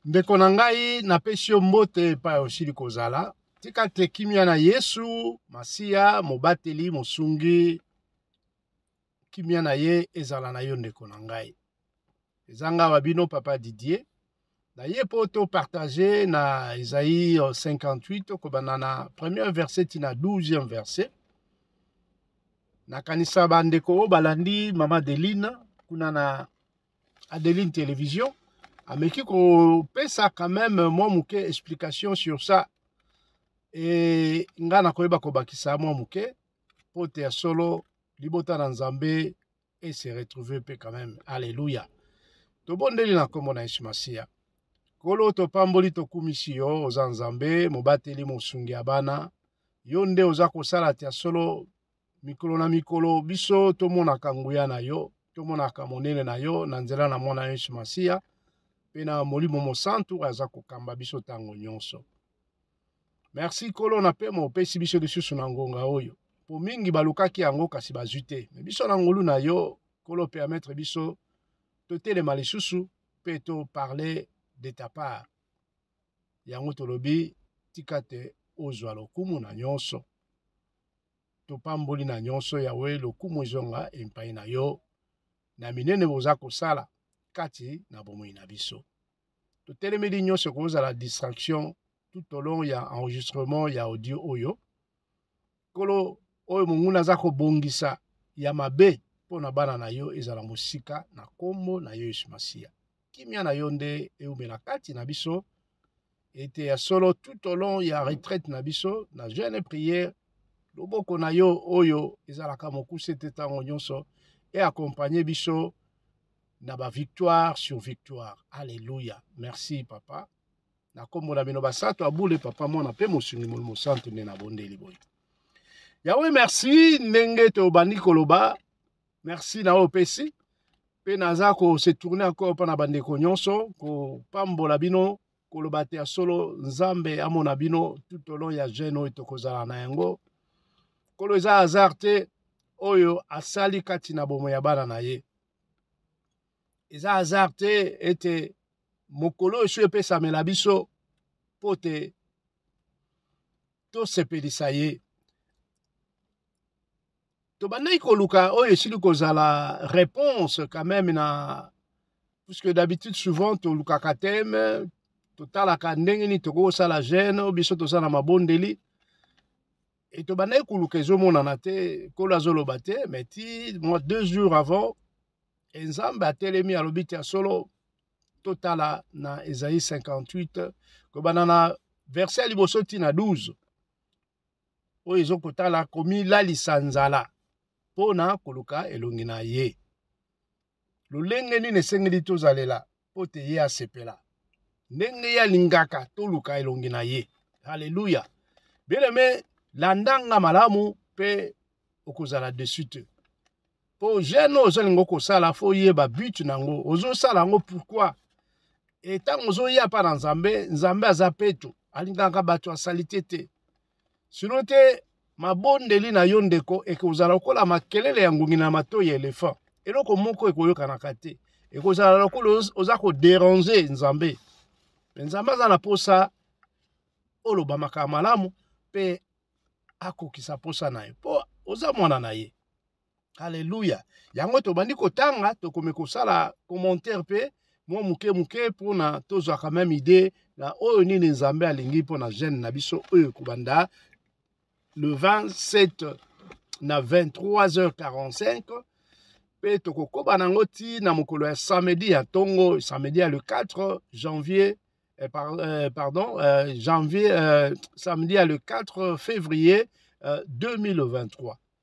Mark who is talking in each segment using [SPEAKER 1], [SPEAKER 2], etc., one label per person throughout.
[SPEAKER 1] ndeko na ngai napesi yo mbote epai osili kozala tika te kimia na yesu masiya mobateli mosungi kimia na ye ezala na yo ndeko na ngai eza nga wa bino papa didier naye mpo topartage na ezai 58 tokobanda na premier verset ti na 12e verset nakanisa bandeko oyo balandi mama adeline kuna na adeline television ameki kopesa quand même mwa moke explication sur ça e ngai nakoyeba kobakisa mwa moke mpo te ya solo libota na nzambe et se retrouver pe quand même alléluia tobondeli na kombo na yesu masiya kolo topamboli tokumisi yo oza nzambe mobateli mosungi ya bana yo nde oza kosala tia solo mikolo na mikolo biso tomonaka nguya na yo tomonaka monene na yo na nzela na mwana yesu masiya mpe na molimo mosantu aza kokamba biso ntango nyonso merci nkolo na pema opesi biso lisusu na ngonga oyo mpo mingi balukaki yango kasi bazwi te me biso na ngolu na yo nkolo permettre biso totelema lisusu mpe toparle de ta part yango tolobi tika te ozwa lokumu na nyonso topamboli na nyonso yawe lokumu ezonga epai na yo na minene boza kosala kati na bomoi na biso totelemeli nyonso ekozala distraction tout au long ya enregistrement ya audio oyo nkolo oyo monguna aza kobongisa ya mabe mpo na bana na yo ezala mosika na nkombo na yo yesu masiya kimia na yo nde eumela kati na biso ete ya solo tout au long ya retraite na biso na jeune prière loboko na yo oyo ezalaka mokuse te ntango nyonso eakompagne biso na ba victoire sur victoire alleluia merci papa na nkombo na bino basato abule papa mwana mpe mosungi molimo santu nde nabondeli boye yawe merci ndenge tobandi koloba merci na oyo opesi mpe naza kose tourne encore mpo na bandeko nyonso kopambola bino koloba te ya solo nzambe amona bino tout olon ya jeune oyo tokozala na yango kolo eza hasard te oyo asali kati na bomo ya bana na ye eza hasard te ete mokolo oyo so epesamela biso mpo te tosepelisa ye tobandaki koluka oyo esili kozala réponse quand même na puisque d'habitude souvent tolukaka teme totalaka ndenge nini tokoki kosala gene biso toza na mabondeli Et tobandaki koluka ezomonana te nkolo azoloba te mais ti mwa deux jours avant e nzambe atelemi alobi ti ya solo totala na ezai 58 kobanda na verse ya liboso ti na 12 oyo ezokotala komilalisa nzala mpo na koluka elongi na ye lolenge nini esengeli tozalela mpo te ye asepela ndenge ye alingaka toluka elongi na ye halleluya bieleme landanga malamu mpe okozala desu te mpo jeune oyo ozolinga okosala fo oyeba but na yango ozosala yango pourkui etango ozoya mpa na nzambe nzambe aza peto alingaka bato ya salite te sino te mabondeli na yo ndeko ekozala lokola makelele ya ngungi na matoi ya elefant eloko moko ekoyokanaka te ekozala lokola oza koderange nzambe mpe nzambe aza na mposa oloba makambo malamu mpe akokisa mposa na ye mpo oza mwana na ye Alléluia. Yango tobandi kotanga, tokomi kosala commentaire pe mwa moke moke mpona tozwa quand même idée na oyo nini nzambe alingi mpo na jeune na biso oyo kobanda le 27 na 23h45 mpe tokokoba na yango ti na mokolo ya samedi ya ntongo samedi ya le 4 janvier eh, par, eh, pardon eh, janvier eh, samedi ya le 4 février eh, 2023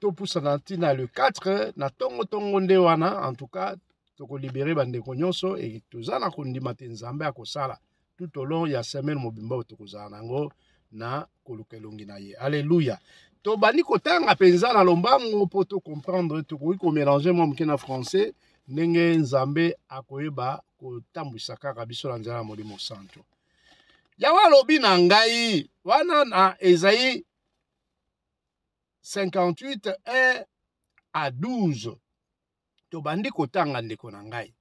[SPEAKER 1] topusana ntina le 4 na ntongo ntongo nde wana en tout cas tokolibere bandeko nyonso e toza na kondima te nzambe akosala tout au long ya semaine mobimba oyo tokozala na yango na koluka elongi na ye alleluya tobandi kotanga mpenza na lombango mpo tocomprendre tokoki komélange mwa moke na français ndenge nzambe akoyeba kotambwisa kaka biso na nzela ya molimo santo yawe alobi na ngai wana na ezai 58 1 à 12 tobandi kotanga ndeko na ngai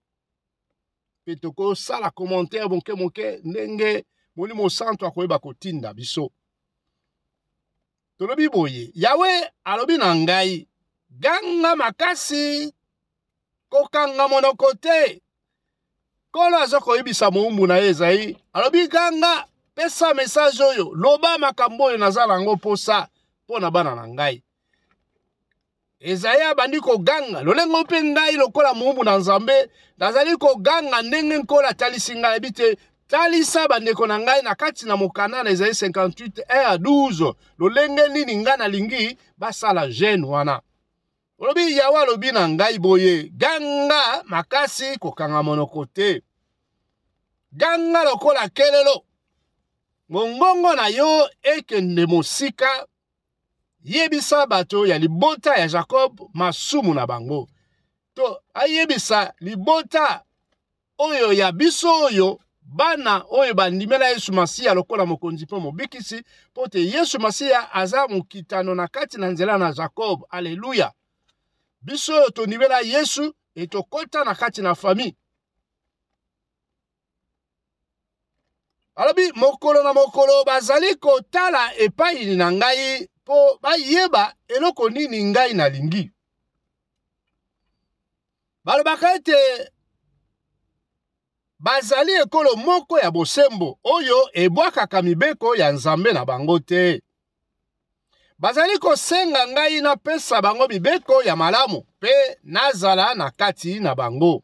[SPEAKER 1] mpe tokosala commentaire moke moke ndenge molimo santu akoyeba kotinda biso tolobi boye yawe alobi na ngai ganga makasi kokanga monoko te nkolo aza koyebisa mowumbu na ye ezai alobi ganga pesa mesaje oyo loba makambo oyo naza na yango mposa mpo na bana na ngai ezali abandi koganga lolenge mpe ngai lokola mowumbu na nzambe nazali koganga ndenge nkolo atalisi ngai yebi te talisa bandeko na ngai na kati na mokanda na ezali 58 1 12 lolenge nini ngai nalingi basala gene wana olobi yawe alobi na ngai boye ganga makasi kokanga monoko te ganga lokola kelelo mongongo na yo ekende mosika yebisa bato ya libota ya jakob masumu na bango to ayebisa libota oyo ya biso oyo bana oyo bandimela yesu masiya lokola mokonzi mpe mobikisi mpo te yesu masiya aza mokitano na kati na nzela na jakob aleluya biso oyo tondimela yesu etokɔta na kati na famille alobi mokolo na mokolo bazali kotala epai na ngai mpo bayeba eloko nini ngai nalingi balobaka ete bazali ekolo moko ya bosembo oyo ebwakaka mibeko ya nzambe na bango te bazali kosenga ngai napesa bango mibeko ya malamu mpe nazala na kati na bango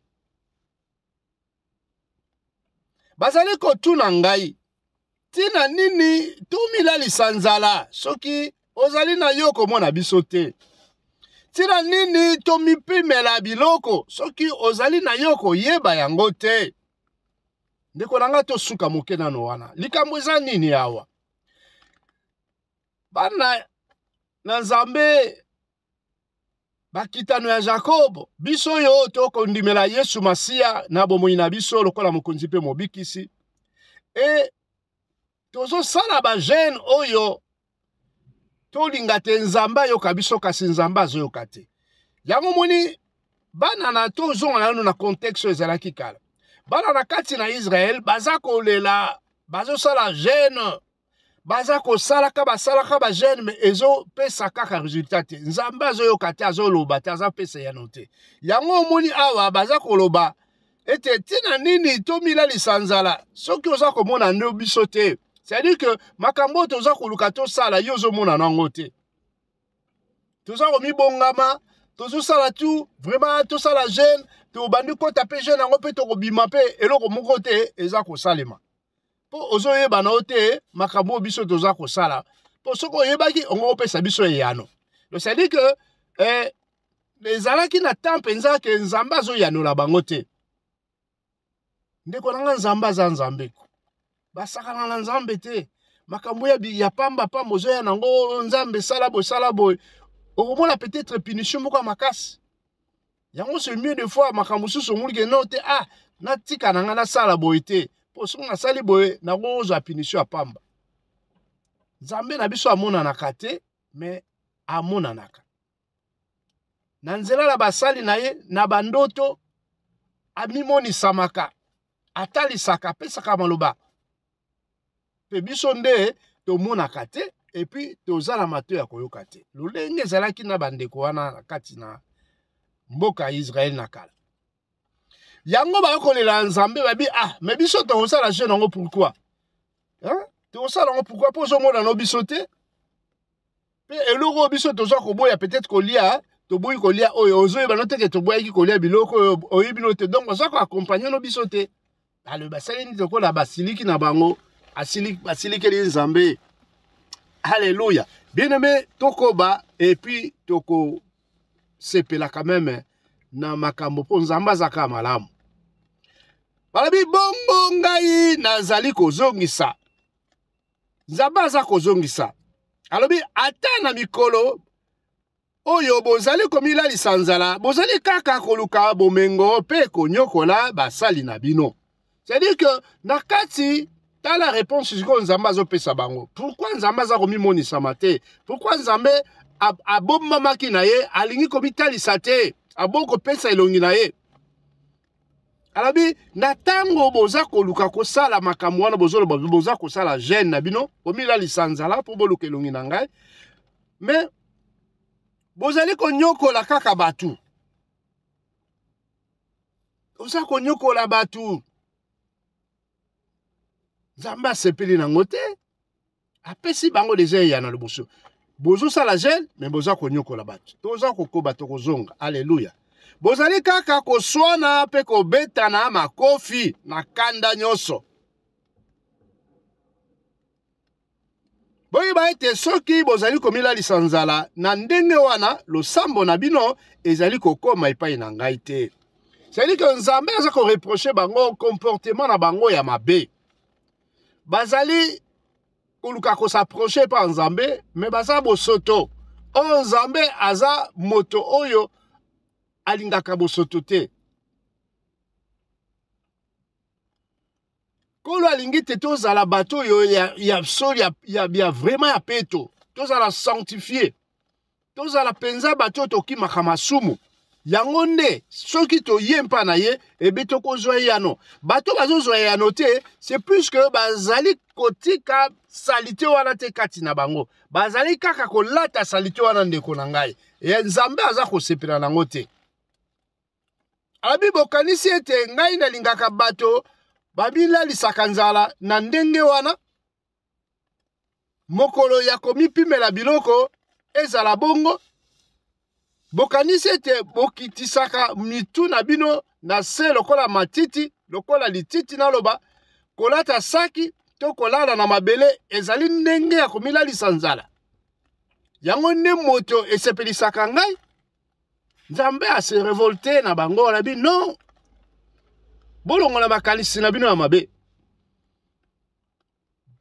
[SPEAKER 1] bazali kotuna ngai ntina nini tomilalisa nzala soki ozali na yo komona biso te ntina nini tomipimela biloko soki ozali na yo koyeba yango te ndeko na ngai tosuka moke nano wana likambo eza nini awa bana na nzambe bakitano ya jakobo biso oyo tokondimela yesu masiya na bomoi na biso lokola mokonzi mpe mobikisi e tozosala bagene oyo tolinga te nzambe ayoka biso kasi nzambe azoyoka te yango moni bana na tozonga nano na contexte oyo ezalaki kala bana na kati na israele baza kolela bazosala gene baza kosalaka basalaka bagene me ezopesa kaka resultat te nzambe azoyoka te azoloba te azapesa yano te yango omoni awa baza koloba ete ntina nini tomilalisa nzala soki oza komona nde biso te cestadire ke makambo oyo toza koluka tosala yo ozomona nango te toza komibongama tozosala tu vraiment tosala jeune tobandi kota mpe jeune yango mpe tokobima mpe eloko moko te eza kosalema mpo ozoyeba na yo te makambo oyo biso toza kosala mpo soki oyebaki ongo opesa biso eyano losadi ke eh, ezalaki na temps mpenza ke nzambe azoyanola bango te ndeko na nga nzambe aza nzambe basakana na nzambe te makambo ya, ya pamba pamba ozoya nango oh, nzambe sala boye sala boye okomona peut-être punition moko ya makasi yango c'est mieux de fois makambo mosusu omoni ke no te ah natika na ngai nasala boye te mpo soki nasali boye nakozwa punition ya pamba nzambe na biso amonanaka te me amonanaka na nzela na basali na ye na bandoto amimonisamaka atalisaka apesaka maloba mpe biso nde tomonaka te epuis toza na mato ya koyoka te lolenge ezalaki na bandeko wana na kati na mboka ya israele na kala yango bakolela ya nzambe babi ah me biso tokosala jeune yango pourkui tokosala yango pourkui mpo ozomonano biso te mpe eloko oyo biso toza koboya peut-être kolia toboyi kolia oyo ozoyeba no teke toboyaki kolia biloko oyo oyebi no te donc baza koakompagne no biso te alobi basali nini lokola basiliki na bango basilikeli ye nzambe halleluya bien aime tokoba epuis tokosepelaka meme na makambo mpo nzambe azaka malamu balobi bongo ngai nazali kozongisa nzambe aza kozongisa alobi ata na mikolo oyo bozali komilalisa nzala bozali kaka koluka bomengo mpe konyokola basali na bino c'est-à-dire que na kati tala réponse sikoyo nzambe azopesa bango pourkui nzambe aza komimonisama te pourkui nzambe abombamaki na ye alingi komitalisa te abongi kopesa elongi na ye alobi na ntango boza koluka kosala makambo wana bozoloba boza kosala gene na bino bomilalisa nzala mpo boluka elongi na ngai me bozali konyokola kaka bato oza konyokola bato nzambe asepeli nango te apesi bango deja eyano liboso bozosala gene me boza konyokola bato toza kokoba tokozonga aleluya bozali kaka koswana mpe kobetana makofi na kanda nyonso boyeba ete soki bozali komilalisa nzala na ndenge wana losambo na bino ezali kokoma epai na ngai te cestadire ke nzambe aza koreproche bango comportement na bango ya mabe bazali koluka kosaproche epai ya nzambe me baza bosoto oyo nzambe aza moto oyo alingaka bosoto te nkolo alingi te tozala bato oyo ya, ya solo ya, ya, ya vraiment ya peto tozala sanctifie tozala mpenza bato oyo tokimaka masumu yango nde soki toye mpa na ye ebe tokozwa eyano bato bazozwa eyano te c'est plus que bazali kotika salite wana te kati na bango bazali kaka kolata salite wana ndeko na ngai e nzambe aza kosepela nango te abi bokanisi ete ngai nalingaka bato babilalisaka nzala na ndenge wana mokolo ya komipimela biloko ezala bongo bokanisi ete bokitisaka mitu na bino na se lokola matiti lokola lititi naloba kolata saki to kolala na mabele ezali ndenge ya komilalisa nzala yango nde moto esepelisaka ngai nzambe ase revolte na bango alabi non bolongola makanisi na bino ya mabe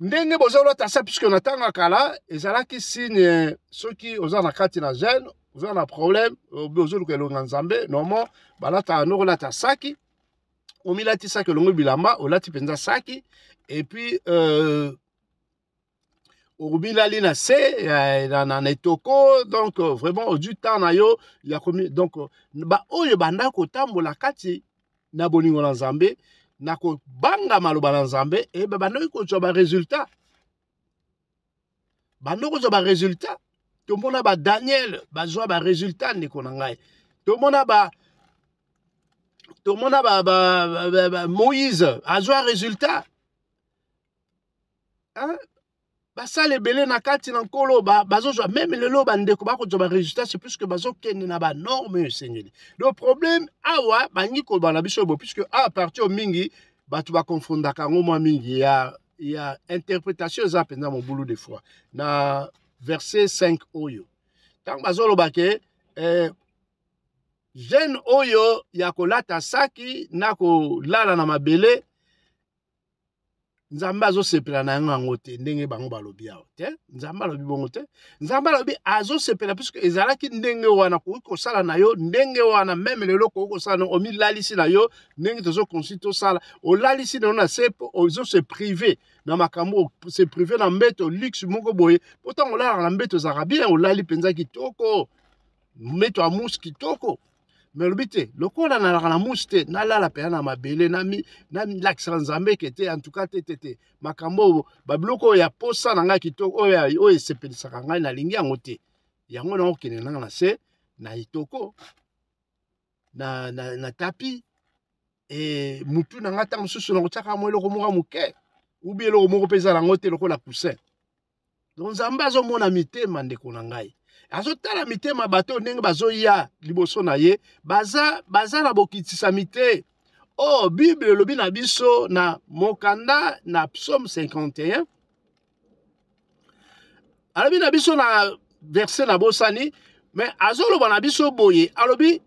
[SPEAKER 1] ndenge bozolota se puisque na ntango ya kala ezalaki signe soki oza na kati na gene oza na problème ozoluka elonga nzambe normal balataka noko olata saki omilatisaki olongo bilamba olati mpenza saki epuis euh, obilali na se na, na, na etoko donc euh, vraiment ozwi temps na yo ya komi donc euh, baoyo banda kotambola kati na bolingo na nzambe na kobanga maloba na nzambe eh, babandoki kozwa baresultat bando kozwa baresultat tomona badaniel bazwa baresultat ndeko na ngai tomona ba tomona ba, ba, ba, ba, ba moïse azwa résultat hein? basala ebele na kati na nkolo bazozwa meme lelo bandeko bakozwa baresultat se puisque bazokende na banorme oyo esengeli le problème awa bangi koloba na biso bo puisque a parti oyo mingi bato bakonfondaka yango mwa mingi ya, ya interpretation eza mpenza mobulu de foi na verset 5 oyo ntango bazoloba ke eh, jeune oyo ya kolata saki na kolala na mabele nzambe azosepela na yango yango te ndenge bango balobi awa te nzambe alobi bongo te nzambe alobi azosepela puiske ezalaki ndenge wana koki kosala na yo ndenge wana meme lelo koki kosala na omilalisi na yo ndenge tozokonsi tosala olalisi na yo na se mpo ozose prive na makambo se prive na mbeto luxe moko boye mpo ntango olalaka na mbeto ezalaka bien olali mpenza kitoko mbeto ya musi kitoko me olobi te lokola nalaka na mushi te nalala mpenza na mabele nalakisaka nzambe ke te antuka te te te makambo oyo babiloko oyo ya posa na ngai kitoko oyo esepelisaka ngai nalingi yango te yango nakokende nanga na se na etoko na, na, na tapi e, mutu na ngai ntango mosusu nakotiaka mwa eloko moko moke ubi eloko moko mpe eza nango te lokola coussin donc nzambe azomona mitema ndeko na ngai azotala mitema bato oyo ndenge bazoya liboso na ye baza baza na bokitisami te oyo oh, bible elobi na biso na mokanda na psaume 51 alobi na biso na verse na bosani me azoloba na biso boye alobi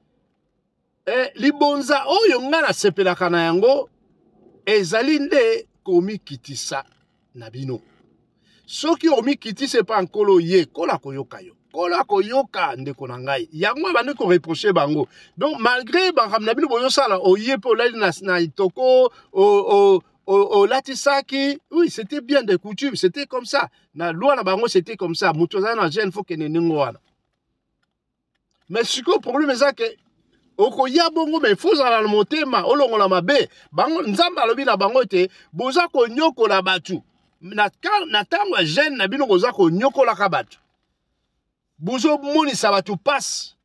[SPEAKER 1] eh, libonza oyo ngai nasepelaka na yango ezali nde komikitisa na bino soki omikitisi epai ya nkolo ye kola koyoka yo nkolo akoyoka ndeko na ngai yango abandi koreproche bango donc malgré makambo na bino bozosala oye mpe olali na, na itoko olatisaki oui c'était bien de coutume c'était comme ça na loi na bango c'était comme ça moto azali na gene fo kende ndenge wana mais sikoyo problème eza ke okoya bongo me fo ozala na motema olongola mabe bango nzambe alobi na bango ete boza konyokola bato na ntango ya gene na bino boza konyokolaka bato bozomonisa bato mpasi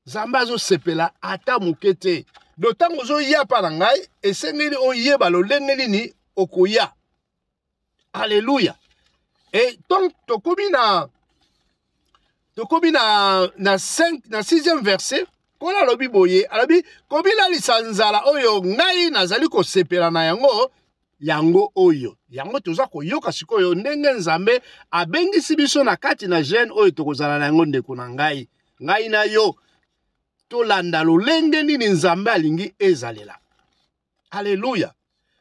[SPEAKER 1] nzambe azosepela ata moke te do ntango ozoya mpa na ngai esengeli oyeba lolenge nini okoya Alléluia. Et donc, tokomi na tokomi na na 5 na 6e verset nkolo alobi boye alobi komilalisa nzala oyo ngai nazali kosepela na yango yango oyo yango toza koyoka sikoyo ndenge nzambe abengisi biso na kati na gene oyo tokozala na yango ndeko na ngai ngai na yo tolanda lolenge nini nzambe alingi ezalela Alléluia.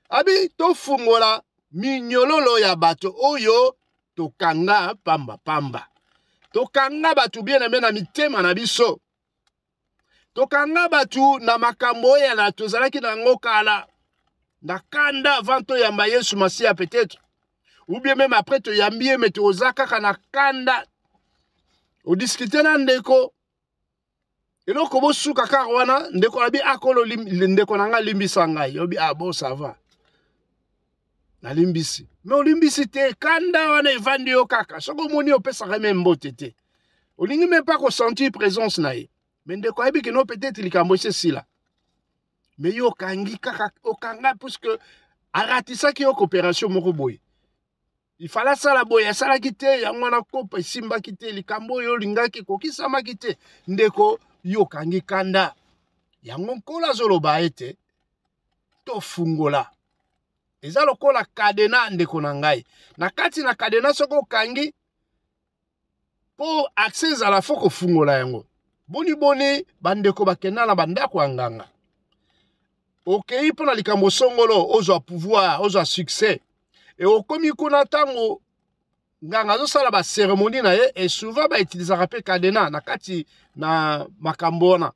[SPEAKER 1] Abi tofungola minyololo ya bato oyo tokanga pamba pamba. Tokanga bato bien aimé na mitema na biso. Tokanga bato na makambo oyo na tozalaki na yango kala na kanda avant toyamba Yesu Masiya peut-être ou bien même après toyambi ye mais toza kaka na kanda odiscute na ndeko eloko bosuka kaka wana ndeko na bi akolo ndeko na ngai limbisa ngai yobi ah bon ça va nalimbisi me olimbisi te kanda wana evandi yo kaka soki omoni opesaka me mbote te olingi me mpe kosentir présence na ye me ndeko ayebi kino peut-être likambo esi esila me yo okangi kaka okanga puisque aratisaki yo coopération moko boye ifala asala boye asalaki te yango wana kopa esimbaki te likambo oyo olingaki ekokisamaki te ndeko yo okangi kanda yango nkolo azoloba ete tofungola eza lokola kadena ndeko na ngai na kati na kadena soki okangi mpo accès ezala fo kofungola yango boni boni bandeko bakenda na bandako ya nganga okei mpo na likambo songolo ozwa pouvoir ozwa succès e okomi kuna ntango nganga azosala baceremonie na ye e souvent bautilisaka mpe cadena na kati na makambo wana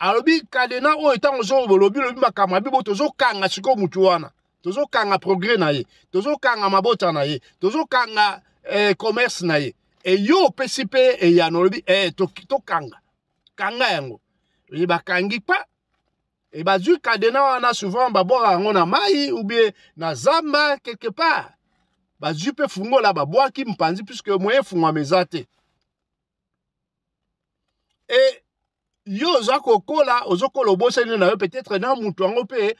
[SPEAKER 1] alobi kadena oyo ntango ozo bolobi lobi makambo ya bibo tozokanga sikoyo motu wana tozokanga progrès na ye tozokanga mabota na ye tozokanga eh, commerce na ye eyo opesi mpe eyano olobi eh, tokanga to kanga yango oye bakangi pa e bazwi kadena wana souvent babwaka yango na mai oubie na zamba quelque part bazwi mpe fungola babwaki mpanzi puisque moyen efungwama eza te e yo oza kokola ozokola obosani na yo peut-être na moto yango mpe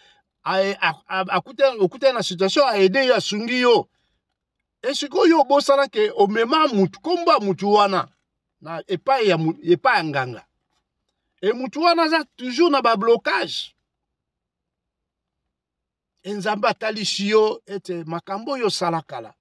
[SPEAKER 1] okutani na situation aide yo asungi yo e sikoyo obosana ke omema motu nkombo ya motu wana na epai ya, epai ya nganga e motu wana aza toujours na bablocage e nzambe atalisi yo ete makambo oyo osala kala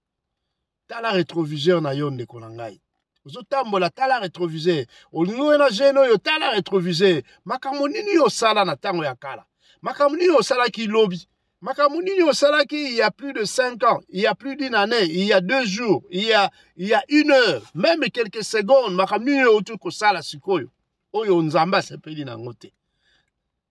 [SPEAKER 1] tala retroviseur na yo ndeko na ngai ozotambola tala retroviseur olingi oyo na jeune oyo tala retroviseur makambo nini yo osala na ntango ya kala makambo nini osalaki lobi makambo nini osalaki il y a plus de 5 ans il y a plus d'une année il y a deux jours il y a, il y a une heure même quelques secondes makambo nini outi kosala sikoyo oyo nzambe asepeli na yango te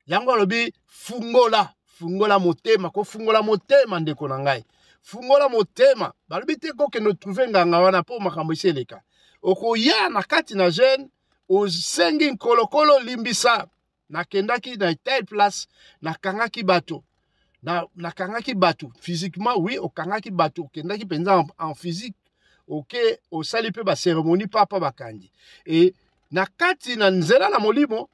[SPEAKER 1] yango alobi fungola fungola motema kofungola motema ndeko na ngai fungola motema balobi te kokende otrouve nganga wana mpo makambo esi eleka okoya na kati na jeune osengi nkolokolo limbisa nakendaki na telle place nakangaki bato na, nakangaki bato physiquement oui okangaki bato okendaki mpenza en, en physique oke okay, osali mpe baceremonie papa bakangi e na kati na nzela na molimo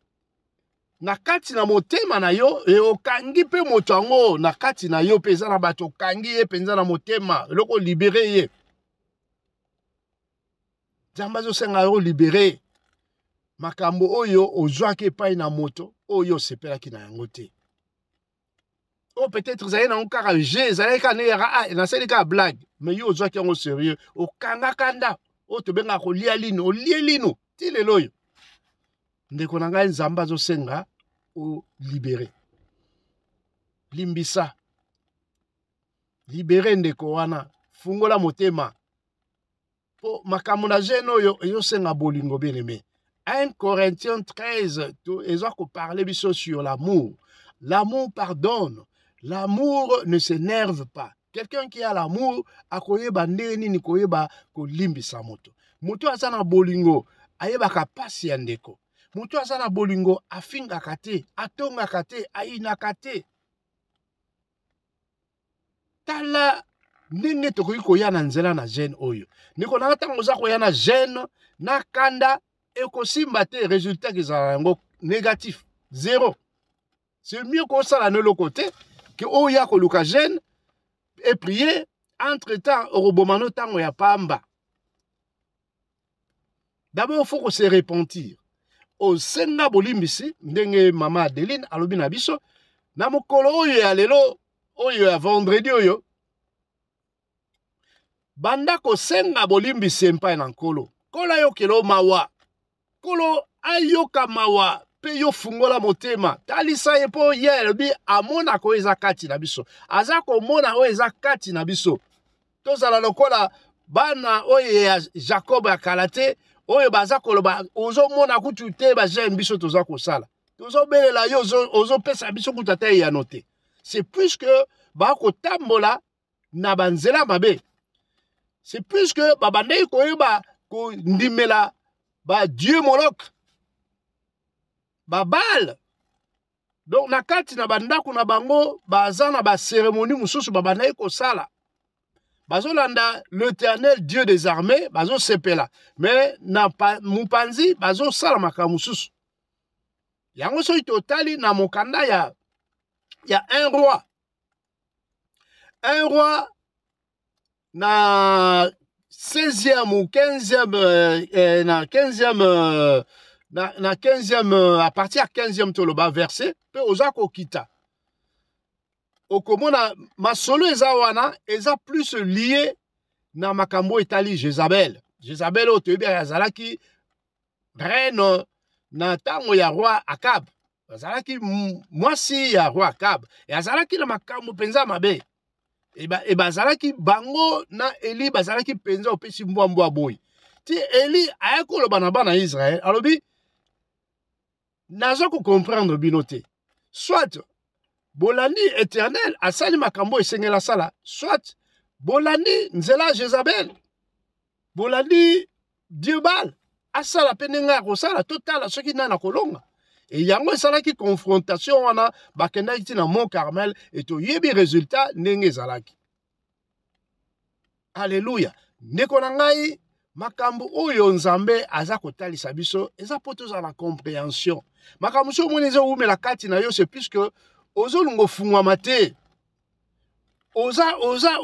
[SPEAKER 1] na kati na motema na yo e okangi mpe moto yango na kati na yo mpe eza na bato okangi ye mpenza na motema eloko olibere ye nzambe azosenga yo olibere makambo oyo ozwaki epai na moto oyo osepelaki na yango te oyo oh, peut-être ezali nango kaka je ezalaki kaka nde ah, nasali kaka blague mais yo ozwaki yango sérieux okangaka nda oyo tobengaka kolia lino olie lino ti lelo oyo ndeko na ngai nzambe azosenga olibere limbisa libere ndeko wana fungola motema mpo makambo na gene oyo ezosenga bolingo bien aimé 1 corinthiens 13 eza koparle biso sur l'amour l'amour pardonne l'amour ne s'énerve pas quelqu'un qui a l'amour akoyeba ndenge nini koyeba kolimbisa moto moto aza na bolingo ayebaka mpasi ya ndeko moto aza na bolingo afingaka te atongaka te ayinaka te tala ndenge tokoki koya na nzela na gene oyo ndeko nanga ntango oza koya na gene na kanda ekosimba te résultat kezala yango négatif zéro c'est mieux kosala na eloko te ke oya koluka gene eprie entre temps okoboma no ntango ya pamba d'abord faut se repentir osenga bolimbisi ndenge mama adeline alobi na biso na mokolo oyo ya lelo oyo ya vendredi oyo banda kosenga bolimbisi epai na nkolo nkolo ayokela o mawa nkolo ayoka mawa mpe yo fungola motema talisa ye mpo ye alobi amonaka oyo eza kati na biso aza komona oyo eza kati na biso tozala lokola bana oyo ya jakob ya kala te oyo baza koloba ozomona kutu te bajeme biso toza kosala tozobelela yo ozopesa biso kutu ata eyano te c'est plus que bakotambola na banzela mabe c'est plus que babandaki koyeba kondimela badieu moloke babale donc na kati na bandako na bango baza na baceremonie mosusu babandaki kosala bazolanda l'éternel dieu des armées bazosepela me na mopanzi bazosala makambo mosusu yango soki totali na mokanda ya ya un roi un roi na 16e ou 15e euh, euh, na 15e euh, na, na 15e euh, à partir ya 15e toloba verset mpe oza kokita okomona masolo eza wana eza plus lie na makambo etali jezabel jezabel oyo toyebi azalaki reno na ntango ya roi akab azalaki mwasi ya roi akab e azalaki na makambo mpenza mabe e, e bazalaki bango na eli bazalaki mpenza opesi mbwa mbwa boye ti eli aya koloba na bana ya israele alobi naza ko comprendre bino te soit bolandi éternel asali makambo esengela sala soit bolandi nzela jezabel bolandi diebal asala mpe ndenge ya kosala totala soki nani akolonga e yango esalaki confrontation wana bakendaki ti na mont carmel e toyebi résultat ndenge ezalaki aleluya ndeko na ngai makambo oyo nzambe aza kotalisa biso eza mpo tozala na comprehension makambo mosusu omoni ezowumela kati na yo se puiske ozolunga ofungwama te oza oza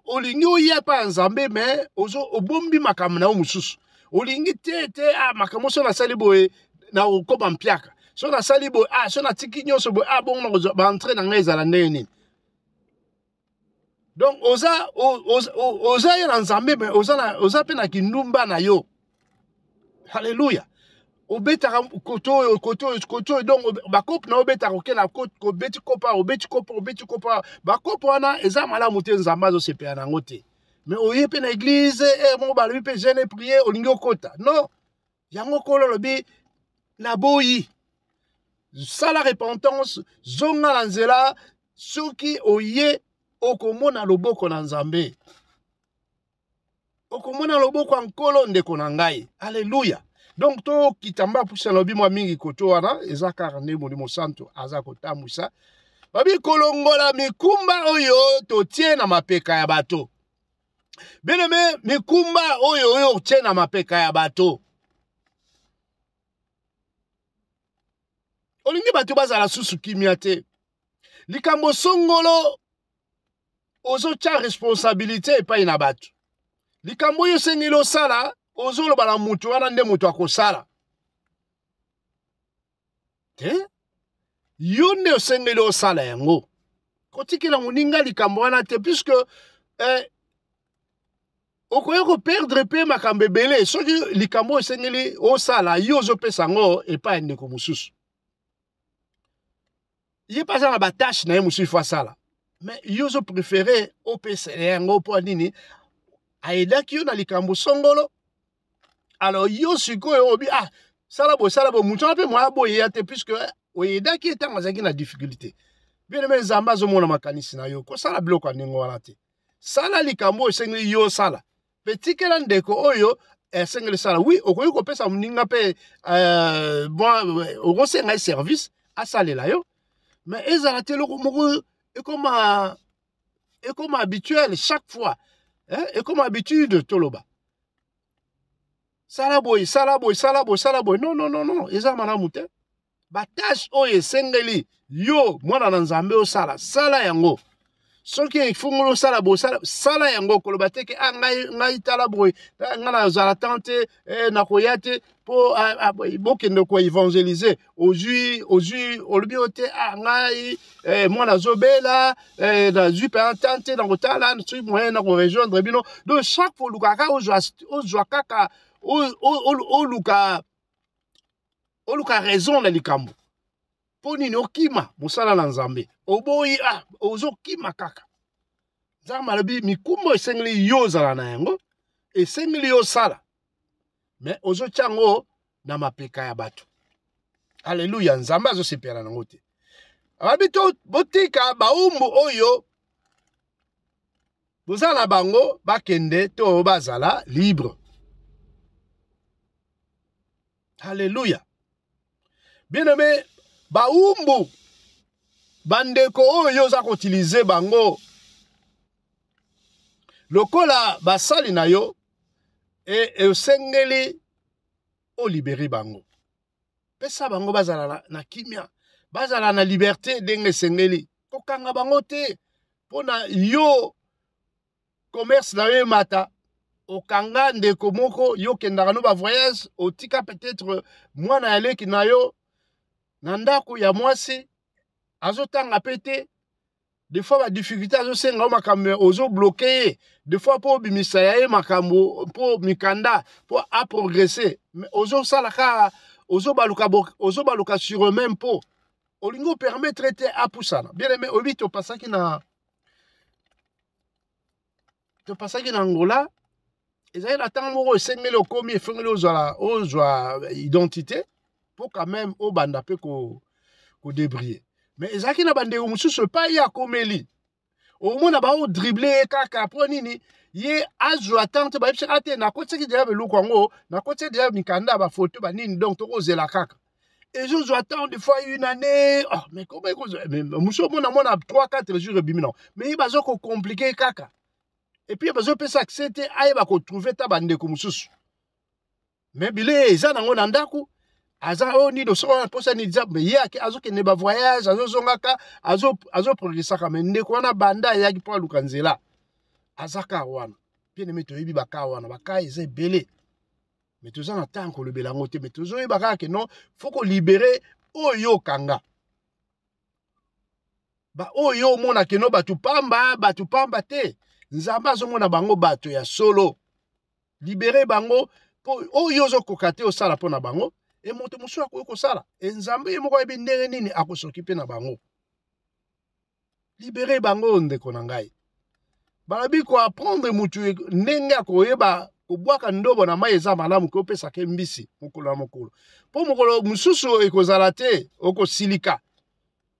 [SPEAKER 1] olingi oya epai ya nzambe me obombi makambo na yo mosusu olingi te te ah, makambo so nasali boye na okoma mpiaka so nasali boye ah, so natiki nyonso boye ah, bongo nakozwa baentre na ngai ezala ndenge nini donc oza oza, oza ye na nzambe me oza, na, oza mpe na kindumba na yo halleluya obetaka kote oyo kote oyo kote oyo donc bakope na yo obetaka okela obeti kopa obeti kopa obeti kopa bakope wana eza malamu te nzambe azosepela na yango te mais oye mpe na eglize e eh, moko balobi mpe jeune prier olingi okota non yango nkolo alobi naboyi sala repentance zonga na nzela soki oye okomona loboko na nzambe okomona loboko ya nkolo ndeko na ngai aleluya donc tokita mba pusi alobi mwa mingi koto wana eza kaka nde molimo santu aza kotambwisa babi kolongola mikumba oyo totie na mapeka ya bato bien aimé mikumba oyo oyo otye na mapeka ya bato olingi bato bazala susu kimia te likambo songolo ozotya responsabilité epai na bato likambo oyo osengeli osala ozoloba na moto wana nde moto akosala te yo nde osengeli osala yango kotikela moninga likambo wana te puisque eh, okoki koperdre mpe makambo ebele soki likambo oyo esengeli osala yo ozopesa yango epai ya ndeko mosusu ye mpe aza na batache na ye mosusu ifo asala mais yo ozo prefere opesela yango mpo nini ayedaki yo na likambo songolo alors yo sikoyo obi ah sala boye sala boye moto wana mpe moya boye ya te puisque oyedaki ye ntango azalaki na difficulté bien eme nzambe azomona makanisi na yo kosala biloko ya ndenge wana te sala likambo oyo esengeli yo osala mpe tikela ndeko oyo esengeli sala wi okoki kopesa moninga mpe euh, euh, okosenga ye service asalela yo mais ezala te eloko moko ekoma ekoma habituel chaque fois hein? ekoma habitude toloba sala boye sala boye sala boye sala boye non non non non eza malamu te batashe oyo esengeli yo mwana na nzambe osala sala yango soki efungoli osala bosala sala yango koloba te ke ah, ngai, ngai tala boye eh, ngai nazala tan te eh, nakoya te mpo ah, ah, bokende koevangelize ozwi ozwi olobi yo te ah, ngai eh, mwana azobela eh, nazwi mpenza tan te nakotala soki moyen nakorejoindre bino donc chaque fois olukaka kaka ozwa kaka oluka oluka raison na likambo mpo nini okima mosala na nzambe oboyi a ah, ozokima kaka nzambe alobi mikumba esengeli yo ozala na yango esengeli yo osala me ozotya yango na mapeka ya bato aleluya nzambe azosepela nango te abi to botika baumbu oyo boza na bango bakende to bazala libre halleluya bien aime baumbu bandeko oyo oza koutilize bango lokola basali na yo e, esengeli olibere bango pesa bango bazala na, na kimia bazala na liberte ndenge esengeli kokanga bango te mpo na yo commerce na yo emata okanga ndeko moko yo okendaka no bavoyage otika peut-être mwana ya leki na yo na ndako ya mwasi azotanga mpe te des fois ba difficulté azosenga yo makambo me ozobloke ye des fois mpo obimisa ya ye makambo mpo mikanda mpo aprogresse me ozosala kaka ozobaluka ozobaluka sur eux-même mpo olingi opermettre te apusana bien aime oyebi topasaki na topasaki na angola ezali na ntango moko esengeli okomi efengeli ozala ozwa identité mpo quand même obanda mpe kodebrille ko mais ezalaki na bandeko mosusu epai ye akomeli omona bao dribble ye kaka mpo nini ye azwa ntango te bayebisaka te nakotisaki deja biloko yango nakotisaki deja mikanda bafoto banini donc tokozela kaka ezozwa temps de fois une année oh, mais koma ekozwa mosu omona mwana 3 4 jours ebimi nango mais ye baza kocomplike kaka epuis bazopesa accès te ayeba kotrouve ta bandeko mosusu mais bilei eza nango na ndako aza oyo oh, nini osoko wana mposa nini eza ye ake azokende bavoyage azozongaka azoprogresaka me ndeko wana banda ayaki mpo aluka nzela aza kar wana bien aime toyebi bakar wana bakar eza ebele mais toza na temps kolobela yango te mais tozoyeba kaka ke non fo kolibere oyo okanga baoyo omona keno bato pamba bato pamba te nzambe azomona bango bato ya solo libere bango mpo oyo ozokoka te osala mpo na bango e moto mosusu akoki kosala e nzambe ye moko ayebi ndenge nini akosoki mpe na bango libere bango ndeko na ngai balobi koaprendre mutu ndenge ya koyeba kobwaka ndobo na mai eza malamu ke opesaka ye mbisi mokolo na mokolo mpo mokolo mosusu ekozala te okosilika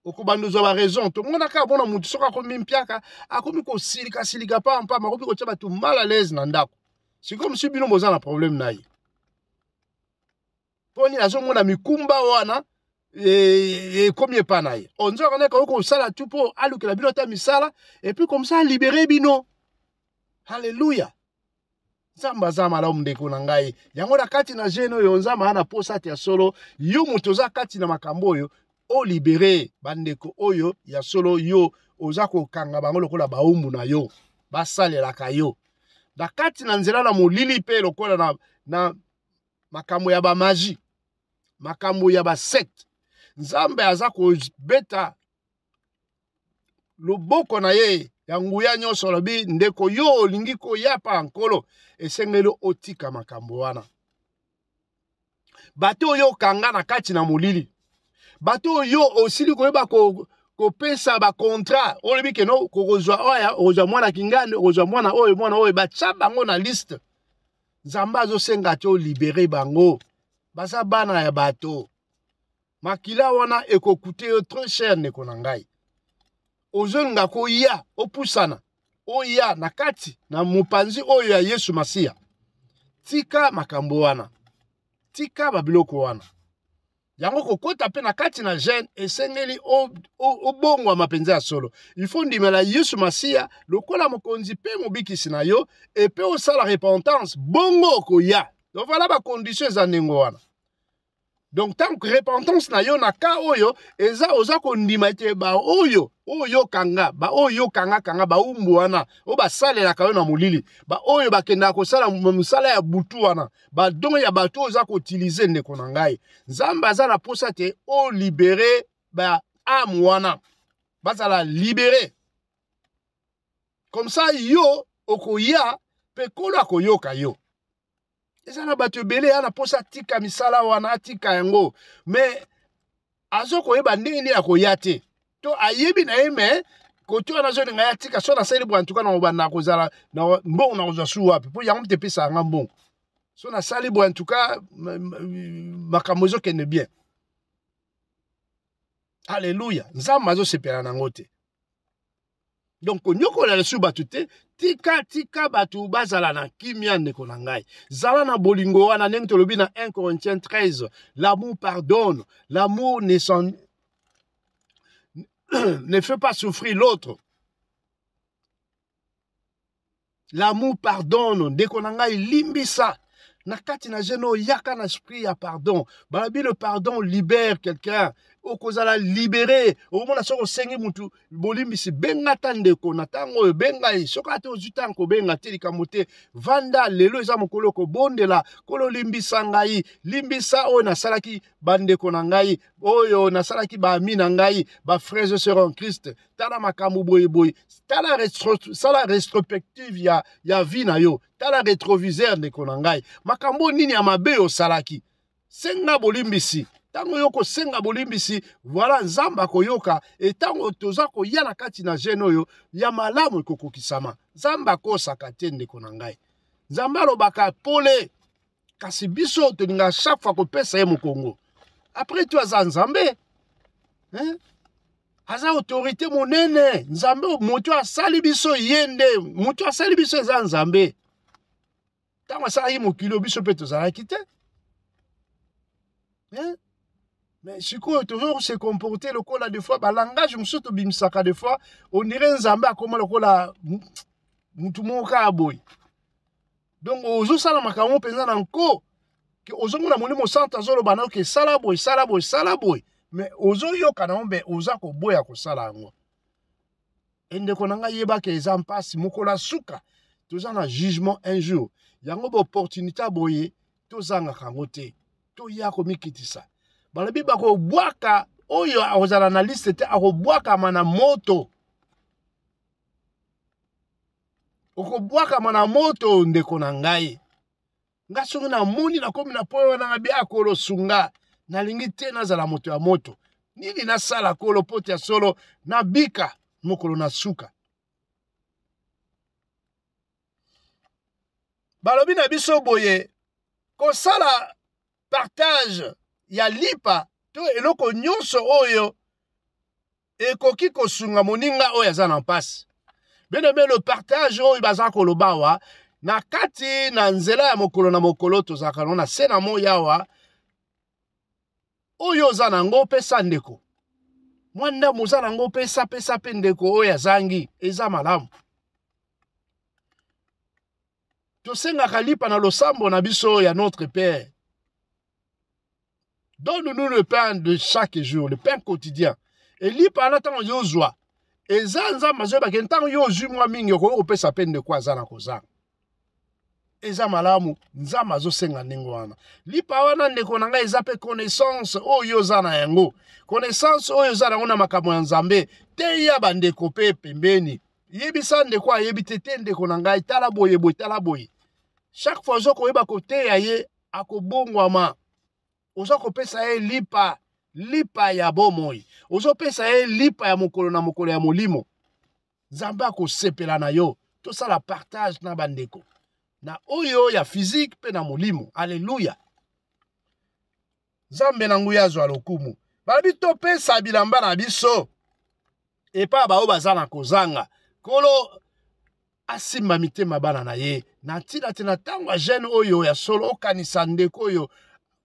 [SPEAKER 1] okobanda ozwa baraison tomonaka amona motu soki akomi mpiaka akomi kosilikasilika mpamba mpamba akomi kotya bato mal alaise na ndako sikoyo mosusu bino boza na problème na ye mpo nini azomona mikumba wana ekomi e, e, epa na ye onzwaka nde koki kosala tu mpo alukela bino ata misala epuis komsa alibere bino halleluya nzambe aza malamu ndeko na ngai yango na kati na jeune oyo nzambe aa na mposa te ya solo yo moto oza kati na makambo oyo olibere bandeko oyo ya solo yo oza kokanga bango lokola baumbu na yo basalelaka yo na kati na nzela na molili mpe lokola na, na makambo ya bamaji makambo ya basecte nzambe aza kobeta loboko na ye ya nguya nyonso alobi ndeko yo olingi koyapa nkolo esengeli otika makambo wana bato oyo okanga na kati na molili bato oyo osili koyeba kopesa bacontrat olobi keno kokozwa oya okozwa mwana kingani okozwa mwana oyo mwana oyo batya bango na liste nzambe azosenga te olibere bango baza bana ya bato makila wana ekokute yo très cher ndeko na ngai ozolinga koya opusana oya na kati na mopanzi oyo ya yesu masiya tika makambo wana tika babiloko wana yango kokota mpe na kati na gene esengeli obongwama mpenza ya solo ifo ndimela yesu masiya lokola mokonzi mpe mobikisi na yo epe osala repentance bongo okoya donc vala bakondition eza ndenge wana donc ntango repentance na yo na ka oyo eza oza kondima ete baoyo oyo kanga baoyo kanga kanga baumbu wana oyo basalelaka yo na molili baoyo bakendaka kosala mosala ya butu wana badon ya bato oyo oza koutilize ndeko na ngai nzambe aza na mposa te olibere baame wana bazala libere comme ça yo okoya mpe nkolo akoyoka yo eza na bato ebele ya na mposa atika misala wana atika yango mais azo koyeba ndenge nini akoya te to ayebi na ye me kote wana azolinga ye atika so nasali boye antuka nakobanda kozala mbongo nakozwa su wapi mpo yango mte epesaka nga mbongo so nasali boye antuka makambo ezokende bien aleluya nzambe azosepela na yango te donc konyokola lisusu bato te tika tika bato bazala na kimia ndeko na ngai zala na bolingo wana ndenge tolobi na 1 corinthiens 13 l'amour pardonne l'amour ne, son... ne fait pas souffrir l'autre L'amour pardonne. Ndeko na ngai limbisa. Na kati na jeno yaka na esprit ya pardon. Balabi le pardon libère quelqu'un. okozala libere okomona soki osengi mutu bolimbisi benga ata ndeko na ntango oyo benga ye soki ata ozwi ntango kobenga te likambo te vanda lelo eza mokolo kobondela kolo limbisa ngai limbisa oyo nasalaki bandeko na ngai oyo nasalaki baami na ngai bafrere sera en christ tala makambo boye boye tala retro, sala retrospective ya, ya vie na yo tala retroviseur ndeko na ngai makambo nini ya mabe osalaki senga bolimbisi ntango yo okosenga bolimbisi voilà nzambe akoyoka e ntango toza koya na kati na gene oyo ya malamu ekokokisama nzambe akosaka te ndeko na ngai nzambe alobaka pole kasi biso tolingaka chaque fois kopesa ye mokongo après tu aza nzambe hein? aza autorité monene nzambe moto asali biso ye nde moto asali biso eza nzambe ntango asalaki mokili oyo biso mpe tozalaki te hein? mais sikoyo tozo se comporter lokola des fois balangage mosusu tobimisaka des fois onire nzambe akoma lokola motu moko kaka boye donc ozosala makambo mpenza na nko ke ozomona molimo santu azoloba na yo ke sala boye sala boye sala boye me ozoyoka na yo mbe oza koboya kosala yango endeko na ngai yebaka eza mpasi mokolo ya suka toza na jugement un jour yango baopportunité ya boye tozangaka yango te toya komikitisa balobi bakobwaka oyo akozala na liste te akobwakama na moto okobwakama na moto ndeko na ngai nga soki namoni nakomi na mpo wana na bia kolo sunga nalingi te nazala moto ya moto nini nasala kolo poti ya solo nabika mokolo na suka balobi na biso boye kosala partage ya lipa to eloko nyonso oyo ekoki kosunga moninga oyo aza na mpasi bino mpe le partage oyo baza koloba awa na kati na nzela ya mokolo na mokolo tozalaka no na se na moi awa oyo oza na yango opesa ndeko mwa ndambo oza na yango opesa pesa mpe ndeko oyo azangi eza malamu tosengaka lipa na losambo na biso ya notre père donne-nous le pain de chaque jour le pain quotidien elipa wana ntango yo ozwa eza nzambe azoyebake ntango yo ozwi mwa mingi okoki kopesa mpe ndeko aza na kozanga eza malamu nzambe azosenga ndenge wana lipa wana ndeko na ngai eza mpe connaissance oyo oza na yango connaissance oyo oza na yango na makambo ya nzambe teya bandeko mpe pembeni yebisa ndeko ayebi te te ndeko na ngai tala boye boye tala boye chaque fois ozo koyeba koteya ye akobongwama oza kopesa ye lipa lipa ya bomoi ozopesa ye lipa ya mokolo na mokolo ya molimo nzambe akosepela na yo tosala partage na bandeko na oyo ya fizike mpe na molimo aleluya nzambe na nguya azwa lokumu balobi topesa bilamba na biso epai ya baoyo baza na kozanga nkolo asimba mitema bana na ye na ntina te na ntango ya jeune oyo ya solo okanisa ndeko oyo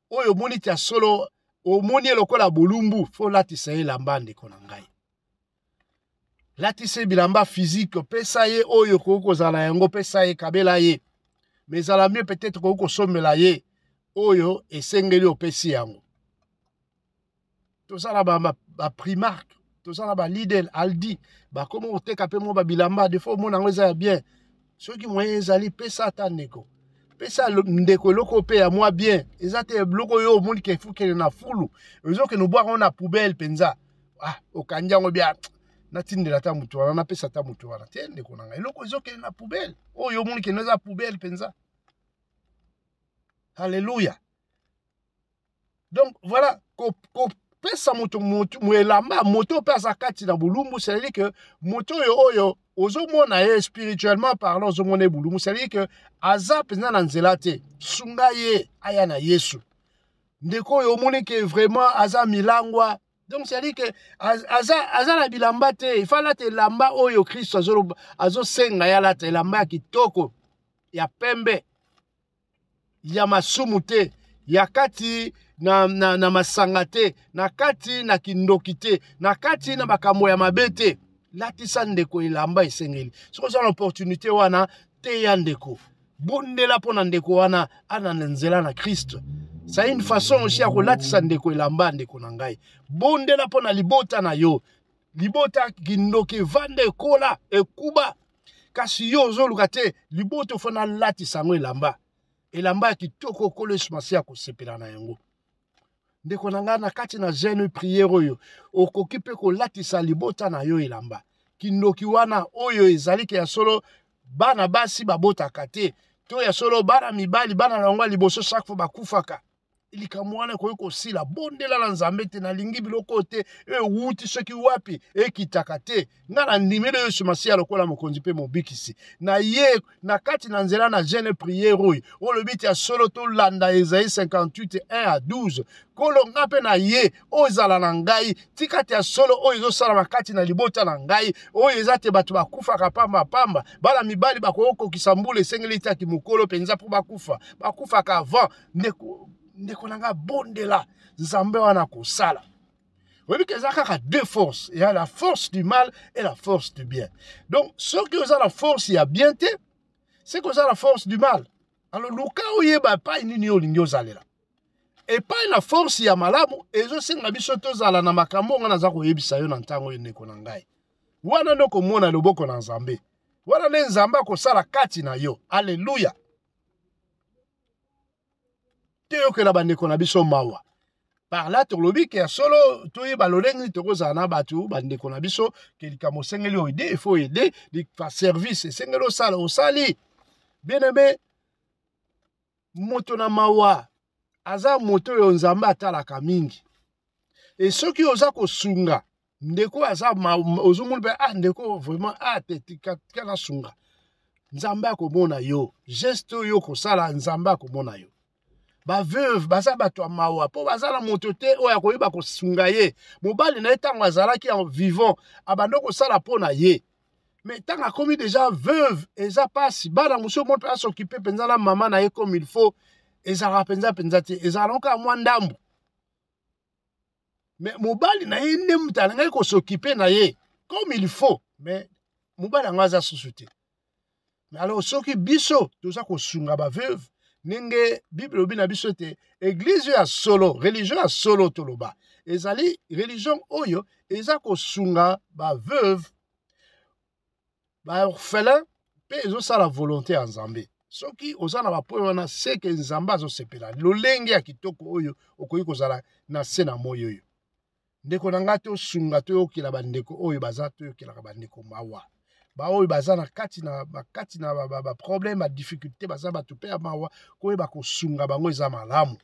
[SPEAKER 1] oyo omoni ti ya solo omoni ye lokola bolumbu fo olatisa ye elamba ndeko na ngai latisa ye bilamba fizike pesa ye oyo okoki kozala yango pesa ye kabela ye me ezala mio peut-être okoki kosombela ye oyo esengeli opesi yango toza na baprimark ba, ba toza na balidel aldi bakoma koteka mpe mwa babilamba defo omona yango eza ya bien soki moyen ezali pesa ata ndeko pesa ndeko eloko mpe ya mwa bien eza te biloko oyo omoni ke efukele na fulu ezokende obwaka yango na poubele mpenza ah, okangi yango bia natindela ata motu wana napesa ata motu wana te ndeko na ngai eloko ezokende na poubele oyo omoni kende eza poubele mpenza halleluya donc voilà kopesa moto moto elamba moto oyo mpe aza kati na bolumbu cetadire ke moto oyo oyo ozomona ye spirituellement parlant ozomona ye bulumu cetadire ke aza mpenza na nzela te sunga ye aya na yesu ndeko oyo omoni ke vraiment aza milangwa donc cetadire ke aza, aza na bilamba te ifa alata elamba oyo kristo azosenga ye alata elamba ya kitoko ya pembe ya masumu te ya kati na, na, na masanga te na kati na kindoki te na kati na makambo ya mabe te latisa ndeko elamba esengeli soki oza na opportunité wana teya ndeko bondela mpo na ndeko wana ana na nzela na kristo sa une façon aussi ya kolatisa ndeko elamba ndeko na ngai bondela mpo na libota na yo libota kindoki evanda ekola ekuba kasi yo ozoluka te libota ofo nalatisa yango elamba elamba ya kitoko okolo yesu masiya akosepela na yango ndeko na ngai na kati na jeune priere oyo okoki mpe kolatisa libota na yo elamba kindoki wana oyo ezali ke ya solo bana basi babotaka te to ya solo bana mibali bana na yango ya liboso chaque fois bakufaka likambo wana ekoki kosila bondela na nzambe te nalingi biloko oyo te ewuti soki wapi ekitaka te nga na ndimeli yesu masiya lokola mokonzi mpe mobikisi na ye na kati na nzela na jeune priere oyo olobi te ya solo tolanda ezai 58 1 a 12 nkolo nga mpe na ye oyo ezala na ngai tika te ya solo oyo ezosalama kati na libota na ngai oyo eza te bato bakufaka pamba pamba bana mibali bakoki kokokisa mbula esengeli te ya kimokolo mpenza mpo bakufa bakufaka avant ndeko ndeko na ngai abondela nzambe wana akosala oyebi ke eza kaka deux force ya la force du mal et la force du bien donc soki oza na force ya bien te seke oza na force du mal alors luka oyeba epai nini yo olingi ozalela epai na force ya malamu ezosenga biso tozala na makambo oyo ngai naza koyebisa yo na ntango oyo ndeko na ngai wana nde okomona loboko na nzambe wana nde nzambe akosala kati na yo aleluya toyokela bandeko na biso mawa par là tolobi ke ya solo toyeba lolenge nini tokozala na bato bandeko na biso ke likambo osengeli oede ifo oede service esengeli osala osali bien aime moto na mawa aza moto oyo nzambe atalaka mingi e soki oza kosunga ndeko aza ozomoni mpe ah ndeko vraiment ah te tika nasunga nzambe akomona yo geste oyo okosala nzambe akomona yo baveuve baza bato ya mawa mpo baza na moto te oyo akoyeba kosunga ye mobali na ye ntango azalaki en vivant abandi kosala mpo na ye mais ntango akomi deja veuve eza mpasi bana mosusu moto asokipe mpenza na mama na ye comme il faut ezalaka mpenza mpenza te ezalaka noka mwa ndambo me mobali na ye nde moto alingaki kosokipe na ye comme il faut me mobali yango aza susu te me alors soki biso toza kosunga baveuve ndenge bible elobi na biso ete eglize ya solo religio ya solo toloba ezali religion oyo eza kosunga baveuve baorphelin mpe ezosala volonté ya nzambe soki oza na bapoye wana seke nzambe azosepela lolenge ya kitoko oyo okoki kozala na se na moi oyo ndeko na ngai tosunga toyokela bandeko oyo baza toyokelaka bandeko mawa baoyo baza na kati na bakati na baproblème badifficulté baza bato mpe ya mawa koyeba kosunga bango eza malamu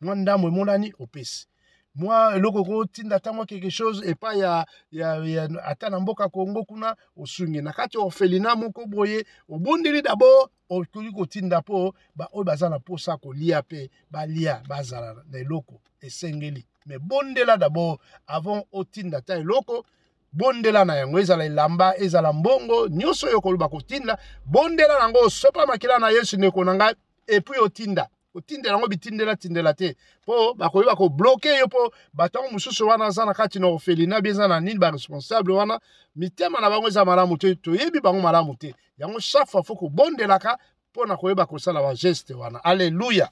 [SPEAKER 1] mwa ndambo emonani opesi mwa eloko okotinda ata mwa quelque chose epai ya, ya, ya ata na mboka kongo kuna osungi na kati ya orphelina moko boye obondeli dabord okoki kotinda mpo baoyo baza na mposa kolia mpe balia bazala na eloko esengeli me bondela dabord avant otinda ata eloko bondela na yango ezala elamba ezala mbongo nyonso oyo okoloba kotinda bondela na yango osopa makila na yesu ndeko na ngai epuis otinda kotindela yango bitindelatindela te mpo bakoki bakobloke yo mpo bato yango mosusu wana aza na kati na orphelina bi eza na nini baresponsable wana mitema na bango eza malamu te toyebi bango malamu te yango chaque fois fo kobondelaka mpo na koyeba kosala bageste wana alleluya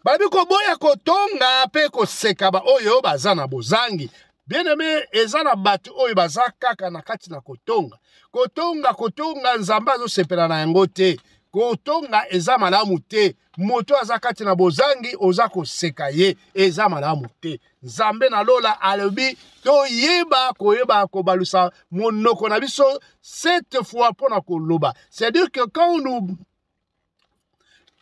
[SPEAKER 1] babi koboya kotonga mpe koseka baoyo baza na bozangi bien-aime eza na bato oyo baza kaka na kati na kotonga kotonga kotonga nzambe azosepela na yango te kotonga eza malamu te moto aza kati na bozangi oza koseka ye eza malamu te nzambe na lola alobi toyeba koyeba kobalusa monoko na biso cette fois mpo na koloba c'est-à-dire que quand nous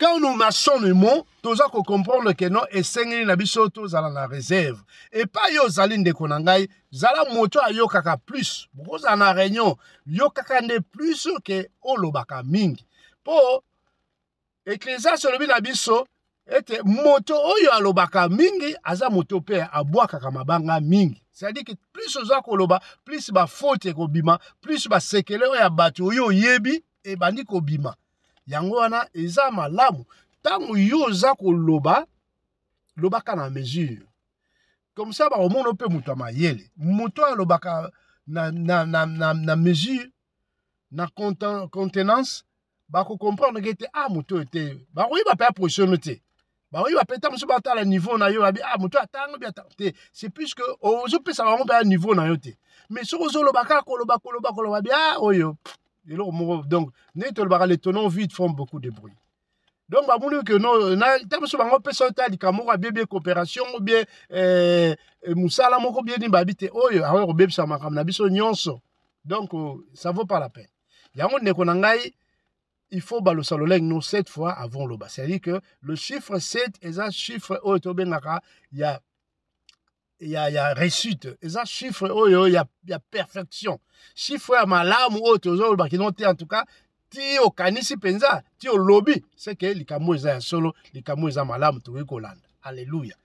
[SPEAKER 1] quand nous marchons le mot toza kocomprendre ke non esengeli na biso tozala na réserve epai yo ozali ndeko na ngai zala moto ayokaka plus bokozala na réunion yokaka nde plus ke olobaka mingi mpo eklesias olobi na biso ete moto oyo alobaka mingi aza moto mpe abwakaka mabanga mingi cestadi ke plus oza koloba plus bafaute ekobima plus basekele oyo ya bato oyo oyebi ebandi kobima yango wana eza malamu ntango yo oza koloba lobaka na mesure comme ça bakomona mpe moto ya mayele moto oyo alobaka na, na, na, na, na mesure na contenance bakocomprendre ke te a ah, moto oyo te bakoyeba mpe aproche no te bakoyeba mpe ntango mosusu batala niveau na yo babi a ah, moto atango bi ata te c'est plus que ozopesa bango mpe ya niveau na yo te mais soki ozoloba kaka koloba koloba koloba bi a ah, oyo eloko moko donc ndenge tolobaka le tonon vide forme beaucoup de bruit donc bamoni ke no na ntango mosusu bango opesa yo ta likambo moko abie bie coopération o bie eh, eh, mosala moko bie nini babi te oyo akoki kobebisa makambo na biso nyonso donc ça vaut pas la peine yango ndeko na ngai il faut balosa lolenge no cette fois avant loba c'est à dire que le chiffre 7 eza chiffre oyo tobengaka ya ya, ya réussite eza chiffre oyo ya, ya perfection chiffre ya malamu oyo tozoloba kino te en tout cas ti okanisi mpenza ti olobi seke likambo eza ya solo likambo eza malamu tokoki kolanda alleluya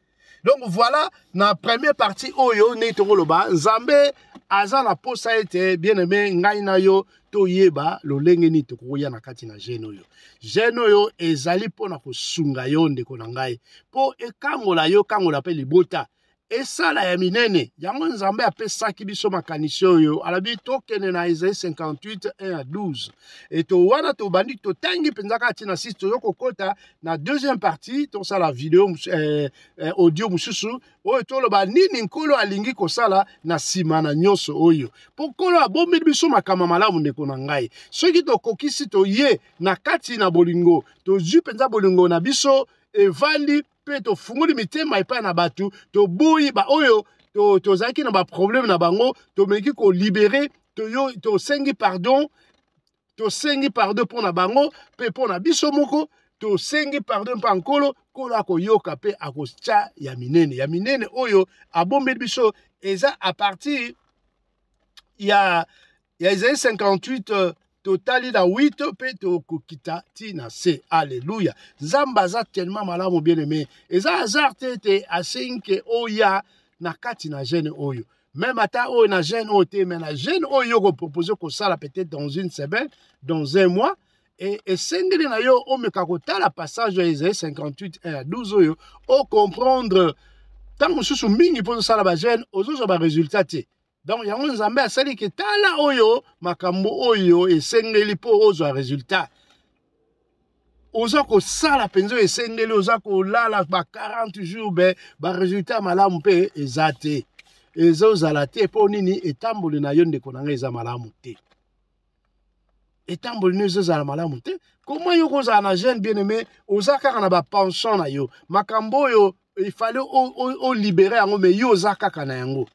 [SPEAKER 1] donc voilà na premier partie oyo ndenge tokoloba nzambe aza na posa ete bien aime ngai na yo toyeba lolenge nini tokoya na kati na gene oyo gene oyo ezali mpo na kosunga yo ndeko na ngai mpo ekangola yo kangola mpe libota esala ya minene yango nzambe apesaki biso makanisi oyo alabi tokende na ezai 58 1 12 eto wana tobandi totangi mpenza kaka ntina sisi tozo kokota na deuxième partie tosala video eh, eh, audio mosusu oyo toloba nini nkolo alingi kosala na nsima na nyonso oyo mpo nkolo abombeli biso makambo malamu ndeko na ngai soki tokokisi toye na kati na bolingo tozwi mpenza bolingo na biso evandi mpe tofungoli mitema epai na bato toboyi baoyo tozalaki to na baproblème na bango tomeki kolibere tosengi to pardon tosengi pardon mpo na bango mpe mpo na biso moko tosengi pardon mpo ya nkolo nkolo akoyoka mpe akotya ya minene ya minene oyo abombeli biso eza a partir ya ya ezali 58 euh, totali na 8 mpe tokokita ti na se alleluya nzambe aza tellement malamu bien aime eza hasard te ete asengi ke oya na kati na gene oyo meme ata oyo na jeune oyo te mais na jeune oyo yo kopropose kosala peut-être dans une semaine dans un mois e, esengeli na yo omeka kotala passage ya ezali 58 1 ya 12 oyo ocomprendre ntango mosusu mingi mpo ozosala bajeune ozozwa baresultat te donc yango nzambe asali ke tala oyo makambo oyo esengeli mpo ozwa resultat oza kosala mpenza esengeli oza kolala ba 40 jours be baresultat malamu mpe eza te ezozala te mpo nini etamboli na yo ndeko na ngai eza malamu te etamboli no ezozala malamu te koma yo kozala na jeune bien aimé oza kaka na bapension na yo makambo oyo ifale olibere yango me yo oza kaka na yango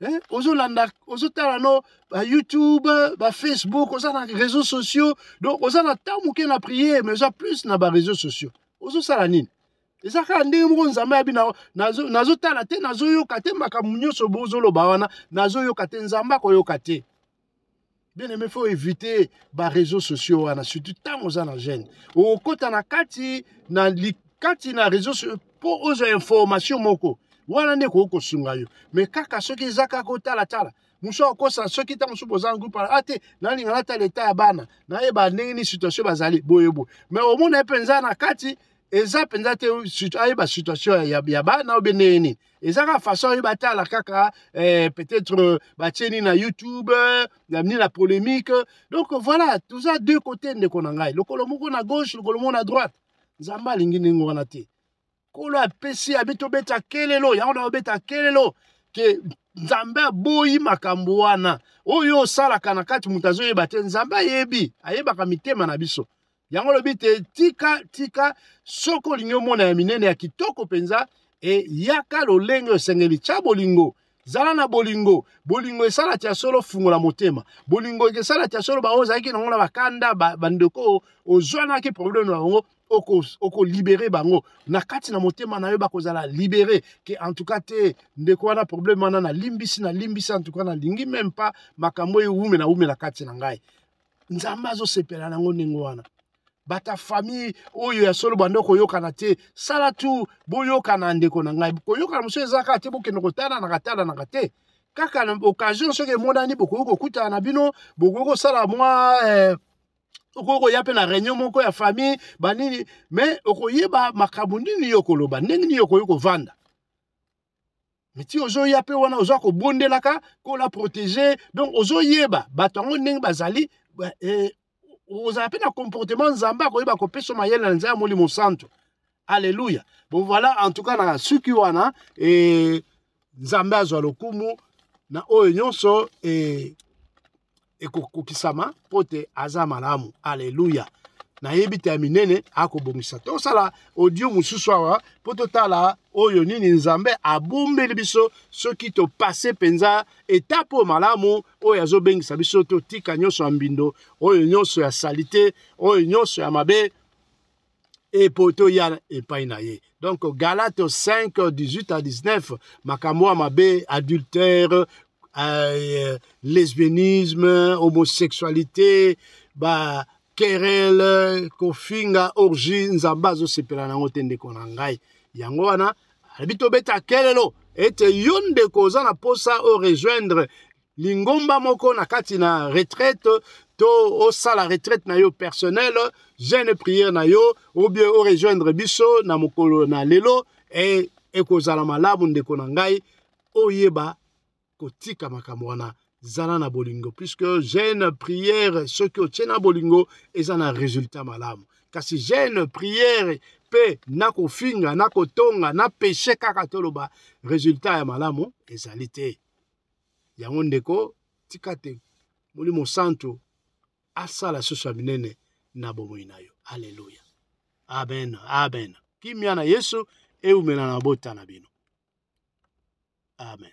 [SPEAKER 1] hein? ozolanda ozotala no ba youtube ba facebook oza na réseaux sociaux donc oza na temps moke na prière mais oza plus na ba réseaux sociaux ozosala nini eza kaka ndenge moko nzambe ayabi nazotala te nazoyoka te makambo nyonso bozoloba wana nazoyoka te nzambe akoyoka te bien aimé faut éviter ba réseaux sociaux wana surtout ntango oza na gene okokota na kati na kati na réseau mpo ozwa information moko wana nde ekoki kosunga yo me kaka soki eza kaka otalatala mosu akosa soki ntango mosusu boza na groupe a te nalinga natala eta ya bana nayeba ndenge nini situation bazali boye boye me omona ye mpenza na kati eza mpenza te ayeba situation ya bana obe ndenge nini eza kaka façon oyo batala kaka eh, peut-être euh, batie nini na youtube euh, nini na polémique donc voilà toza deux côté ndeko na ngai lokolo moko na gauche lokolo moko na droite nzambe alingi ndenge wana te nkolo apesi abi tobeta kelelo yango na obeta kelelo ke nzambe aboyi makambo wana oyo osalaka na kati moto azoyeba te nzambe ayebi ayebaka mitema na biso yango olobi te tika tika soki olingi omona ya minene ya kitoko mpenza eyaka lolenge osengeli tya bolingo zala na bolingo bolingo esala tya solo fungola motema bolingo esala tya solo baoyo ozalaki nango na bakanda bandeko oyo ozwanaki probleme na bango okolibere oko bango na kati na motema na yo bakozala libere ke antuka te ndeko wana probleme wana nalimbisi nalimbisi antuka nalingi meme pa makambo ewumela wumela kati na ngai nzambe azosepela nango ndenge wana bata famille oyo ya solo banda koyokana te sala tu boyokana ndeko na ngai koyokana mosusu eza kaka te bokende kotalanaka talanaka te kaka na occasion soki emonani bokoki kokutana na bino bokoki kosala mwa eh, okoki koya mpe na réunion moko ya famille banini mais okoyeba makambo nini yo okoloba ndenge nini okoki kovanda miti ozoya mpe wana oza kobondelaka mpo na protege donc ozoyeba bato yango ndenge bazali eh, ozala mpe na comportement nzambe akoyeba kopesa mayele na nzambe ya molimo santu alleluya bon voilà en tout cas na suki wana eh, nzambe azwa lokumu na oyo nyonso eh, ekokokisama mpo te aza malamu aleluya nayebi te ya minene akobongisa tosala audio mosusu awa mpo totala oyo nini nzambe abombeli biso soki topase mpenza etape oyo malamu oyo azobengisa biso totika nyonso ya mbindo oyo nyonso ya salite oyo nyonso ya mabe epo toya epai na ye donc galate 5 18 à 19 makambo ya mabe adultère euh, lesbianisme homosexualité ba kerele kofinga orgie nzambe azosepela na yango te ndeko na ngai yango wana alobi tobeta kelelo ete yo ndeko oza na mposa orejoindre lingomba moko na kati na retraite to osala retraite na yo personnel jeune prière na yo ou bien o rejoindre biso na mokolo na lelo e ekozala malamu ndeko na ngai oyeba kotika makambo wana zala na bolingo puisque jeune prière soki otie na bolingo eza na résultat malamu kasi jeune prière mpe na kofinga na kotonga na peshe kaka toloba résultat ya malamu ezali te yango ndeko tika te molimo santu asala susu ya minene na bomoi na yo aleluya amen amen kimia na yesu eumela na bota na bino amen